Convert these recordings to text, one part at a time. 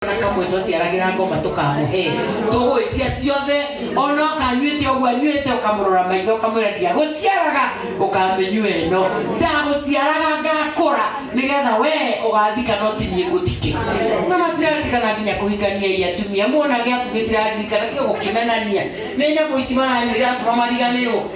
na kamwe twaciaragĩra ngoma tũkamũhe tũgwĩtia ciothe ona ũkanyuĩte ũguo anyuĩte ũkamũrora maitho ũkamwĩra ndiagũciaraga ũkamĩnyua ĩno ndagũciaraga ngakũra nĩgetha we ũgathika no ti niĩ ngũthike na matiraririkana nginya kũhikania i atumia muona gĩaku gĩtiraririkana tiga gũkĩmenania nĩ nyamũ ici maranyua iratũma mariganĩrwo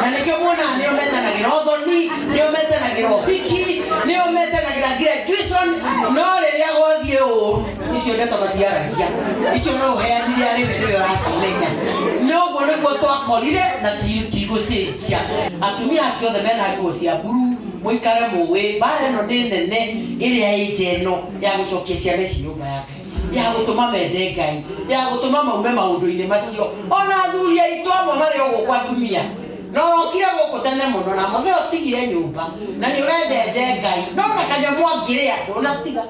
na nĩkĩo muonaga nĩo metanagĩra ũthoni nĩo metanagĩra ũhiki nĩo metanagĩra graduation no rĩrĩa gwathiĩ ũru icio ndeto matiaragia icio no ũheanire arĩ we nĩwe ũracimenya noguo nĩguo twakorire na ti- tigũcenjia atumia acio othe mena nguo cia mburu mũikare mũĩ mbara ĩno nĩ nene ĩrĩa ĩnja ĩno ya gũcokia ciana ici nyũmba yake ya gũtũma mende ngai ya gũtũma maume maũndũ-inĩ macio ona athuri aitũ amwe marĩ o gũkũ atumia no okire gũkũ tene mũno na mũthee ũtigire nyũmba na nĩ ũrendende ngai no na kanyamũ angĩrĩa ndũnatiga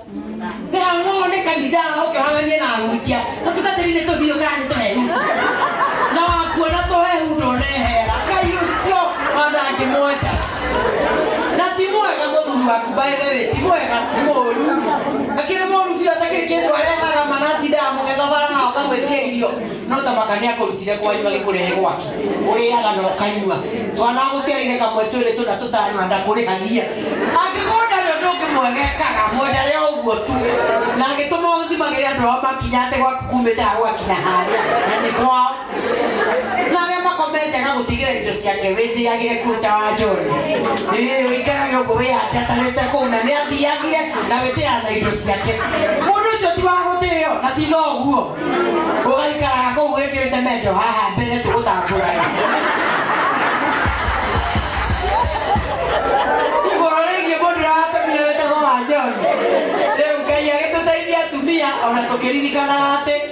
nĩhang'oo nĩ kanitha ũkĩhananie na hunjia mũtungatĩri nĩ tũhiũ kana nĩ tũhehu na wakuona tũhehu ndũnehera ngai ũcio ona angĩmwenda na ti mwega mũthuri wa by the way ti mwega nĩ mũũru akĩrĩ mũũru biũ atakĩrĩ kĩndũ arehaga manatinda amũgetha bara na akagwĩtia irio no ta makania kũrutire kwanyu agĩkũrehe gwake ũrĩaga na ũkanyua twana gũciarĩire kamwe twĩrĩ tũna tũtano na ndakũrĩhagia angĩkorwo ndarĩ ũndũ ũngĩ mwegekaga mwendarĩ o ũguo tu na agĩtũma ũthimagĩre andũ ao makinya atĩ gwaku kumĩte agwakinya harĩa na nĩ kwao na arĩa makomete agagũtigĩra indo ciake wĩtĩagĩre kuota wa njoni ũikarage ũguo wĩyandatarĩte kũu na nĩathiagire na wĩtĩaga na indo ciake mũndũ ũcio ti wa gũtĩo na ti noguo ũgaikaraga kũu wĩkĩrĩte mendo haha mbere tũgũtambũrana igũrũ rĩgiĩ mũndũ ũrahatamire wĩtagwo wa njoni rĩu ngai agĩtũteithia atumia ona tũkĩririkanaga atĩ